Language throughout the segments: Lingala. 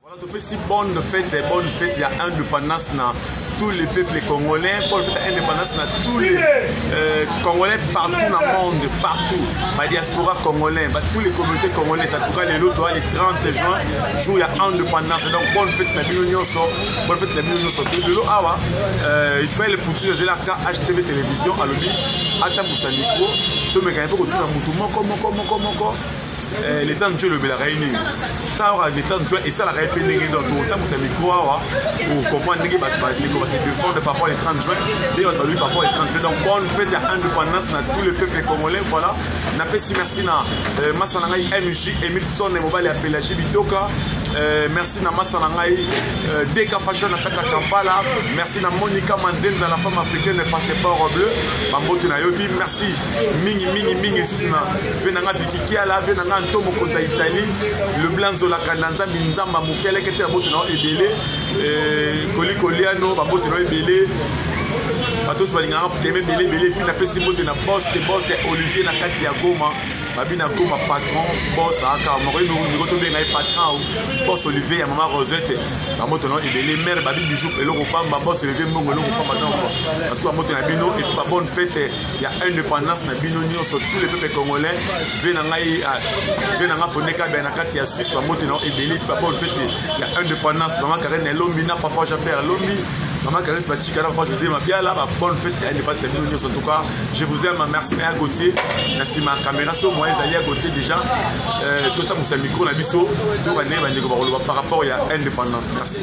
Voilà, topesi bonne fête, bonne fête ya indépendance na tous les peuples congolais, bonne fête ya indépendance na tous les euh, congolais partout na monde, partout, ba diaspora congolais, ba tous les communautés congolaises, en tout cas les loto le 30 juin, jour ya indépendance. Donc bonne fête na bino nyonso, bonne fête na bino nyonso. Lelo awa euh, Ismaël Poutine azela ka HTV télévision alobi ata musa micro, tomekana pe kotuna mutu moko moko moko moko Eh, leta nzwa elobelaka ye nini ntango leta nzwa esalaka ye mpe ndenge nini tokotambusa mikro awa okomprendre ndenge bato bandeko base defendre par rapport le 30 juin ndenge bato balobi par rapport le 30 juin donc bonne fête ya indépendance na tout le peuple congolais voilà napesi merci na euh, masa na ngai mj emilson mobali ya pelagie bitoka Euh, merci na masa na ngai euh, deka fashion na kati ya kampala merci na monica manzenza la femme africaine passeport bleu bambote na yo epi merci mingi mingi mingi lisusu na ve na nga vikikiala ve na nga nto mokonzi ya italie leblanc nzolaka na nzambi nzamba mokeleke te babote na yo ebele eh, kolikoliano babote na yo ebele bato nyonso balingaka kotema ebele ebele epi napesi mbote na bos te bos ya olivier na kati ya goma babi na goma patron bos aka moko miko tobenga ye patron bos olivier ya mama rosette bamoto na ebele mare babi bijou eloko pamba bos olivier mbongo eloko pamba ntango bato bamoto na bino epi babonne fete ya indépendance na bino nyonso tous les peuples congolais vie na ngai ah, vie na ngai fonde kabia na kati ya suisse bambote na ebele papa olfete ya indépendance mama karene elombi na papa jean pierre elombi Maman Caresse Bachika, la fois José Mabiala, ma bonne fête, elle n'est pas cette minute en tout cas. Je vous aime, merci à Gauthier, merci ma caméra, sur moi, d'aller à Gauthier déjà. Euh, tout à mon micro, la biso, tout à par rapport à l'indépendance. Merci.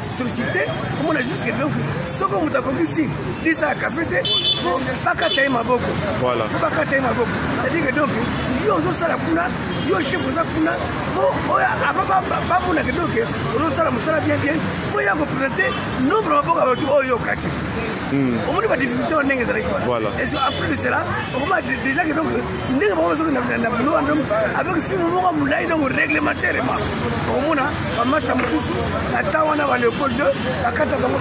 atrocité omona jusque donc soko moto akokisi lisa ya kafe te fo bakata ye maboko fo bakata ye maboko cestadire que donc yo ozosala kuna yo chef oza kuna fo oyo avant bamona ke donc ozosala mosala bien bien fo ya kopresente nombre maboko ya bato oyo okati omoni badifficulté wana ndenge ezalaki wana après de cela okoma déjà ke donc ndenge bango bazokenda na bulo wana avec filme moko molai donc réglementairement okomona bamasta mosusu na temps wana ba leopold 2 bakata bango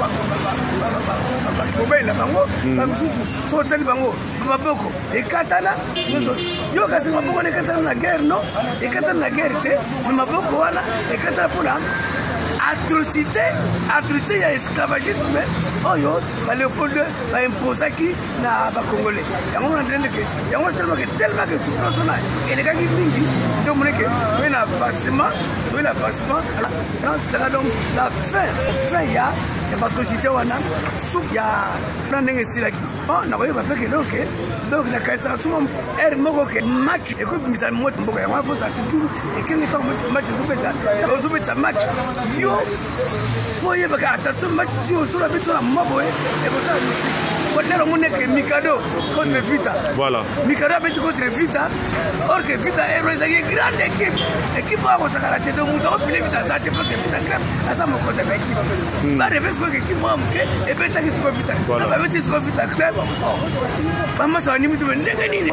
bakobela bango hmm. bamosusu so otali bango maboko ekatana nyonso hmm. yo kasi maboko wana ekatana na guerre no ekatana na guerre te na maboko wana ekatana mpona atrocité atrocité ya esclavagisme oyo ba leopold baimposaki na bakongole yango mona ndene ndeke yango tellement ke tellement ke souffrance wana elekaki mingi nde omoni ke toye na avancement toye na avancement nansitaka donc la fin fin ya ya batrocité wana su ya na ndenge esilaki o nakoyeba mpe ke donc donc nakanisaka suma heure moko ke match ekobimisa mboka yango wana fozala toujours ekenge ntango match ezobeta ozobeta match yo fo oyebaka attention mati osolo abe tola moma boye ekosala musiki kotala omoni eke mikado contre vita voilà mikado abeti contre vita or que vita ero ezali ye grande équipe équipe oyo akosakana te donc moto akopile vita aza te parce que vita club aza mokonzi ya baéquipe bareve sikoyo équipe moko moke ebetaki siko vita club abeti siko vita club bamasa banimi te ndenge nini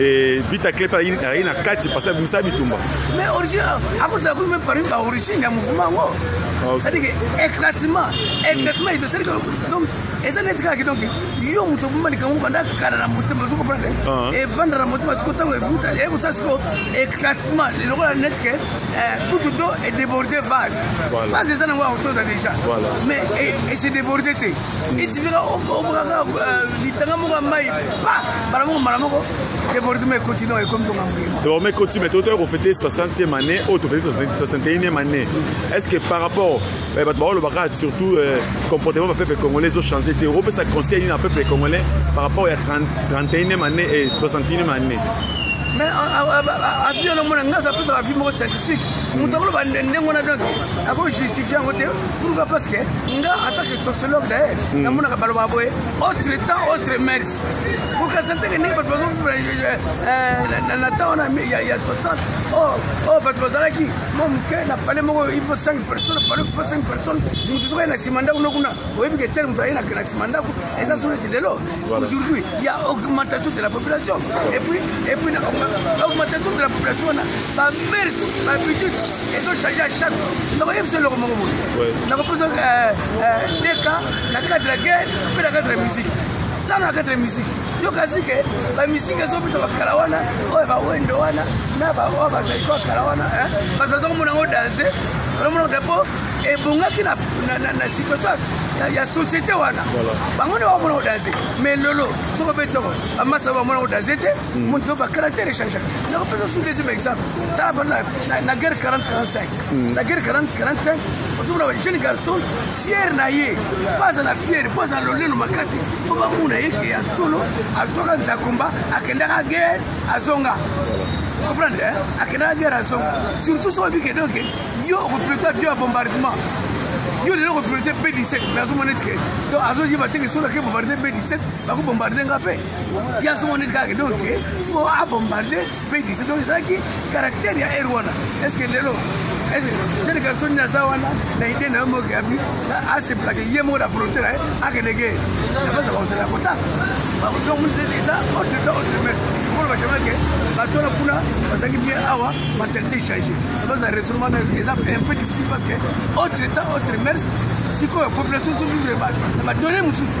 Eh, vita clep ayi na kati pasi abimisa bitumba mais origine akozala kutu me parmi baorigine ya mouvement yango cestadike éclatement éclatement edo cestadike donc eza neti kaka donc yo moto obomba likambo banda kala na motema ozo comprendre ah. evanda na motema siko ntango evuta eyebi kosala siko éclatement lokola neti ke eh, kutu do edéborde vase vase eza nango akotoda déjà mais ese eh, déborde te esifika obakaka litanga moko ya mai mbala moko mbala moko debordement ekoti no ekomi kongambuima debordement ekoti mais totoya kofete 60e année oyo tofete 61e année est ce que par rapport eh, bato baolobaka surtout euh, comportement ba peuple congolais ezochange te opesa conseil nini na peuple congolais par rapport ya 31e année et 61e année mais avi wana omona ngai azapesa avi moko scientifique moto akoloba ndenge wana donc akojustifier yango te pourquoi parce que nga atake sociologue daye namonaka balobaka boye autre temps autre mers bokasanteke ndenge bato bazovivre eh, eh, na temps wana ya 60 oyo bato bazalaki mwa moke na pale moko il faut 5 personne pale faut 5 personne moto soki aye na nsima ndako nokuna oyebi ke tel moto aye na nsima ndako eza soki ete lelo aujourd'hui ya augmentation de la population et puis augmentation de la population wana bamers babitude ezo change à chaque fois nakoyebisa eloko moko boye nakoposa euh, euh, deka na cadre ya guerre mpe na cadre ya musique tano na cadre ya musique yokasi ke bamisiki ezobeta bakala wana oyo bawendo wana na baoyo bazali kwa kala wana bato baza komona yango danse olomona te mpo ebongaki na situation ya société wana bango nde bakomona kodanse mais lelo soko beti yoko bamasa bamona kodanse te moto bacaractère echangaka yango mpenza su deuxième exemple tala bana na guerre 40 45 na guerre 40 45 ozomona jeune garçon fier na ye mpo aza na fier mpo aza na lolelo makasi mpo bamona ye ke ya solo azwaka nzakomba akendaka guerre azonga comprendre akendaka guerre azonga surtout soki oyebi ke donc yo okopilote avio ya bombardement yo lelo okopilote b 17 mais azomona ete ke donc azoyeba teke soki ake bombarde b 17 bakobombarde nga mpe ya somo neti kaka donc fo abombarde mpe dise donc ezalaki caractère ya ere wana est ce que lelo jeune garçon nini aza wana na idée na yo moki abi aseplake ye moko na frontière aye akende ge nabaza bakosala kotasa donc eza autre temps autre messe mpona bachama ke bato wana kuna bazalaki bien awa mentalité change baza retournement na eza un peu difficile parce que autre temps autre messe sikoyo population ezovivre na badonne mosusu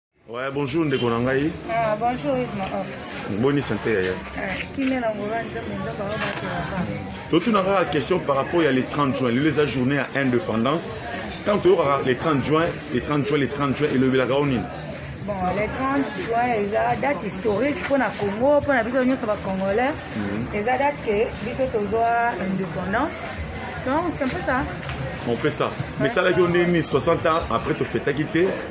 Ouais, bonjour ndeko na ngai. Ah, bonjour Isma. Boni santé yaya. Kimia na ngora nzambe nzambe ba ba. Totuna kaka question par rapport ya le 30 juin, le la journée à indépendance. Quand tu auras le 30 juin, le 30 juin, le 30 juin et le la gaonine. Bon, le 30 juin eza date historique mpo na Congo, mpo na biso nyonso ba congolais. Mhm. Eza date que biso tozwa indépendance. Donc c'est un peu ça. On fait ça. Mais ça là on est mis 60 ans après tu fais ta quitter.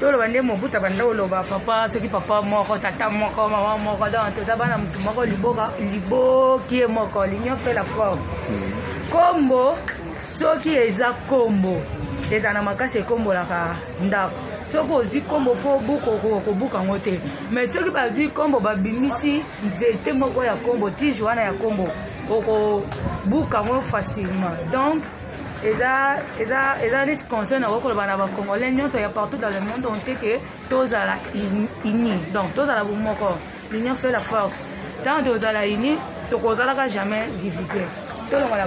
toloba nde mobuta banda oloba papa soki papa moko tata moko mama moko donc toza bana motu moko liboka libokie moko l'union fait la force nkombo soki eza nkombo ezala na makasi ekombolaka ndako soki ozwi nkombo mpo obuka okobuka yango te mai soki bazwi nkombo babimisi nzete moko ya nkombo tige wana ya nkombo okobuka yango facilement donc eza eza eza neti conseil na kokoloba na bacongolais nyonso ya partout dans le monde entier ke tozala uni donc tozala bomoko l'union fait la force ntango tozala uni tokozalaka jamais divise tolongola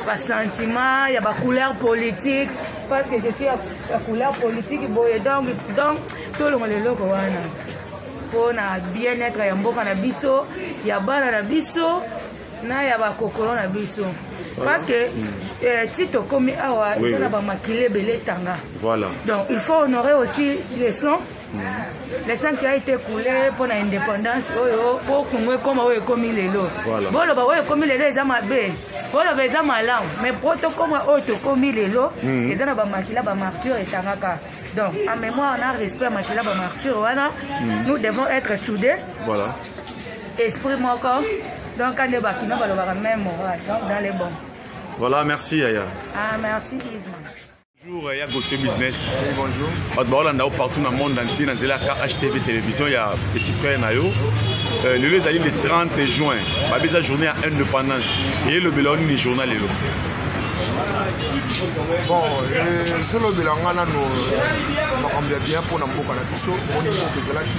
basentiment ya bacouleur politique parce que je suis ya couleur politique boye donc donc tolongola eloko wana mpo na bien-être ya mboka na biso ya bana na biso na ya bakokolo na biso parce que euh, ti tokomi awa eza na bamakile ebele etanga donc il faut honorer aussi le son mm. le sang qui a été coulé mpo na indépendance oyo mpo kongo ekoma oyo ekomi lelo boloba oyo ekomi lelo eza mabe boloba eza malamu mais mpo tokoma oyo tokomi lelo mm. eza na bamakila bamarture etangaka donc en mémoire na respect ya makila bamarture wana mm. nous devons être soudés esprit moko donc kande bakino balobaka même morale donc dans les bons voilà merci yaya ah merci isma Bonjour, ya Gauthier Business. Oui, bonjour. Bato baolanda yo partout na monde entier na nzela ya KHTV télévision ya petit frère na yo. Euh, lelo ezali le 30 juin babi eza journée ya indépendance eyelobela yo nini journée lelo bon ezolobela nga nano makambo ya bien mpo na mboka na biso moni mboka ezalaki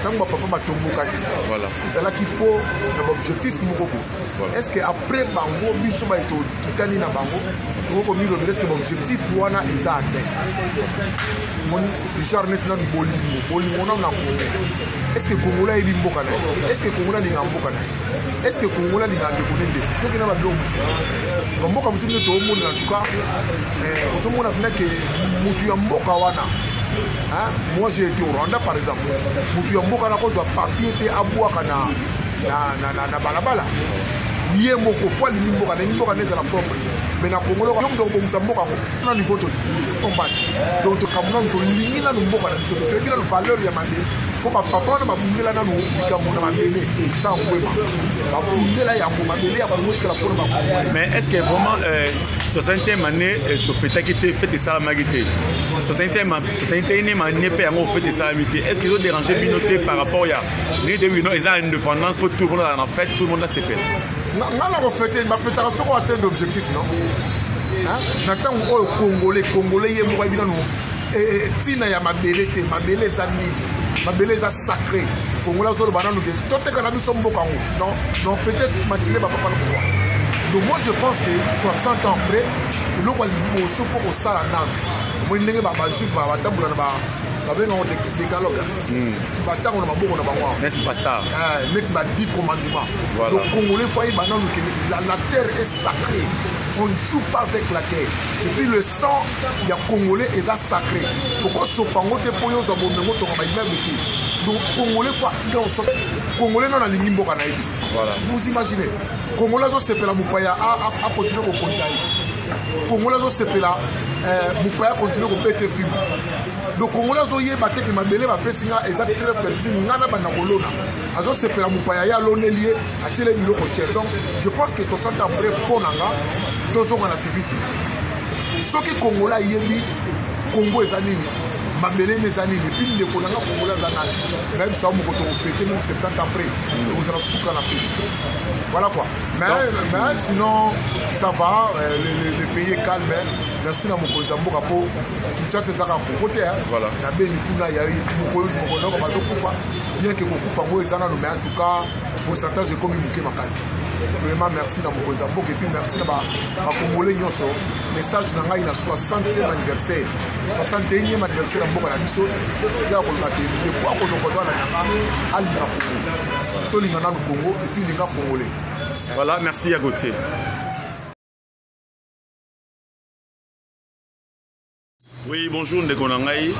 ntango bapapa batombokaki ezalaki mpo na baobjectif moko bo est ce que après bango biso baye tokitani na bango okoki komilobela est ce que baobjectif wana eza atteint moni genre neti nanu bolingo bolingo nanu na kongo est ce que kongola ayebi mboka na ye est ce que kongola alinga mboka na ye est ce que kongola alinga ndeko ne ndeko toki na babiloko mosusu bamboka mosusu nde toomonela en tout cas eh, ozomona mpena ke motu ya mboka wana Hein? Moi j'ai été au Rwanda par exemple. Mutu ya mboka nakozwa papier te abwaka na na na na, na balabala. Ye moko po alingi mboka na mboka na ezala propre. Mais na Congo loko mdo kobongisa mboka ko na niveau to combat. Donc kamuna to lingi na mboka na biso to yebi na valeur ya mande. Ko ba papa na babundela na likambo na mabele sans kwema. Babundela ya ko mabele ya ko motika la pona ba. Mais est-ce que vraiment euh, 60e année euh, to fetaki te fete salamaki te? sotanitene manie mpe yango fete esalami te est ce que ezo dérange bino te par rapport ya ndenge te bino eza indépendance mpo tout le monde azala na fete tout le monde asepela nga na kofete bafetaka soko atteindre objectif non na ntango oyo congolais congolais ye moko ayebi nano ntina ya mabele te mabele eza nini mabele eza sacré congolais azoloba nano te toteka na biso mboka yango non non fete matine bapapa na pouvoir donc moi je pense que 60 ans après eloko ya liboso mpo kosala nano omoni ndenge bajuif batambola na babengango decalogue hmm. batango na maboko na bango neti eh, ba 10 commandement donc congolais fai bananu ke la terre est sacrée on ne joue pas avec la terre et puis le sang ya congolais eza sacré tokosopa yango te mpo yo ozwa bombe yango tonga baimeble te donc congolais fa donc congolais nano alingi mboka na ye te vous imaginez congolais azosepela mopaya akontinue kokonza ye congolais azosepela eh, mopaya continue kobete film donc congolais azoyeba te ke mabele bapesi nga eza très fertile nga na banda kolona azosepela mopaya ye aloneli ye atiele biloko cher donc je pense que 60 ans après mpo na nga tozonga na civisme soki congolais ayebi congo eza nini mabele nde eza nini epuis ndeko na nga congolais aza nani nayebisa yo moko tokofete meme 70 ans après tokozala suka na feti voilà quoi Mais, mais sinon, ça va, euh, le, le, le pays est calme. Hein. Merci na mokonzi ya mboka mpo kinshasa ezaka koko te voilà. na beni kuna ya mokonoko bazokufa bien ke kokufa yango eza nano mais en tout cas pourcentage ekomi moke makasi vraiment merci na mokonzi ya mboka epuis merci na bakongole nyonso message na ngai na 60e anniversaire 61e anniversaire ya mboka na biso eza ya koloba ke ndeko akozwa kozala na yanga alinga kongo tolinga nanu kongo Tineka Congolais. Voilà, merci à Gauthier. oui bonjour ndeko na ngai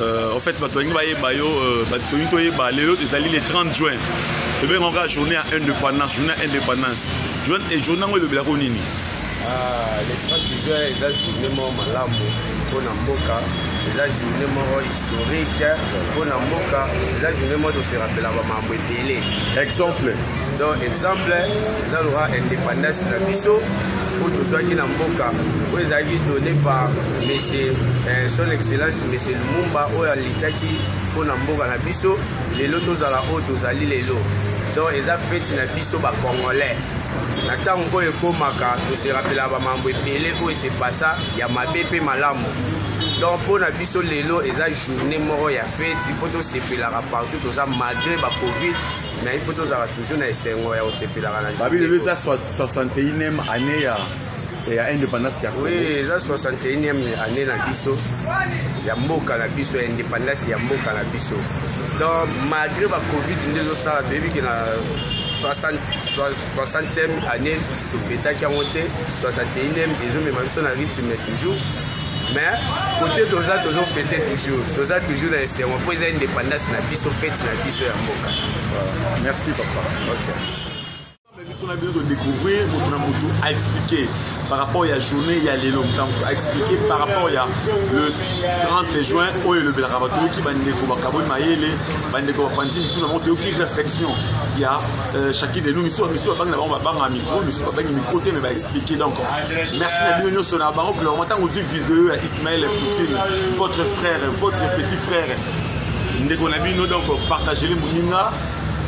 euh, en fait bato balingi bayeba yo euh, bato tolingi toyeba lelo ezali le 30 juin tobengaka journée ya indépendance journée ya indépendance journée yango elobelako nini Ah, le 30 juin eza journée moko malamu mpo na mboka eza journée moko historique mpo na mboka eza journée moko toserapela bamambo ebele exemple donc exemple eza loka indépendance na biso oyo tozwaki na mboka oyo ezalaki donné par monsieur eh, son excellence monsieur lumumba oyo alitaki mpo na mboka na biso lelo tozala oyo tozali lelo donc eza feti na biso bacongolais na ntango oyo ekomaka toserapela bamambo ebele oyo esepasa ya mabe mpe malamu donc mpo na biso lelo eza journée moko ya fete ifo tosepelaka partout toza malgré bacovid mais ifo tozalaka toujours na esengo ya kosepelaka na babilelo eza 61 année ya ya independance ya oui eza 61e année na biso ya mboka na biso ya independance ya mboka na biso donc malgré ba covid nde ezosala toyebi ke na 60e année tofetaki yango te 61e ezomema biso na rythme toujours mais kote toza tozofete toujours toza toujours na esengo mpo eza independance na biso fete na biso ya mboka merci papa okay. biso na bino todecouvrir moto na motu aexplike par rapport ya journée ya lelo motango aexplike par rapport ya le 30 juin oyo elobelaka bato toyoki bandeko bakaboli mayele bandeko bapanzi mitu na bango toyoki réflexion ya euh, chacune de nous misu misu babangi na bango babanga micro misu babangi micro te mais baexplike donc merci na bino nyonso na bango clairement ntango ozwi video ya ismael poutine votre frère votre petit frère ndeko na bino donc partagele moninga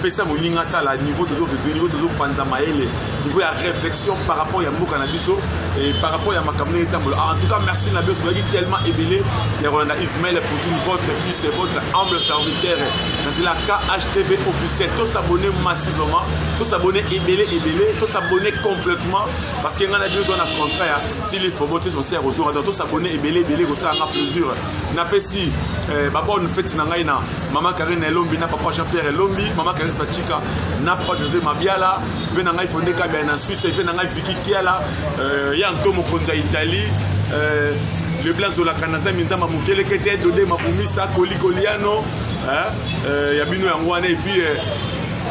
pesa moninga tala niveau tozo réveille niveau tozo panza mayele niveau ya réflexion par rapport ya mboka na biso et par rapport ya makambo ndenge etambola ah, en tout cas merci na biso bazalaki tellement ebele ya kolanda ismael poutine votre fils et votre humble serviteur nazela khtv officiel tosabone massivement tosabone ebele ebele tosabone complètement parce que ngai na bino toza na contrat ya tilifobo te sonse ya kozonga donc tosabone ebele ebele kosala nga plaisir napesi eh, babone feti na ngai na mama karine elombi na papa jean pierre elombi mama karine bacika na papa josé mabiala mpe na ngai fonde kabia na suisse mpe na ngai viki kiala eh, ya nto mokonzi ya italie eh, leblanc zolaka na nzambe nzamba mokelekete dode mabumisa kolikoliano eh, eh, ya bino yango wana epuis eh,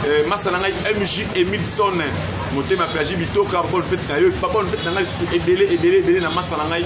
eh, masa na ngai mj emilson motema plagi bitoka bonne fete na yo papa bonne fete na ngai lisusu ebele ebele ebele na masa na ngai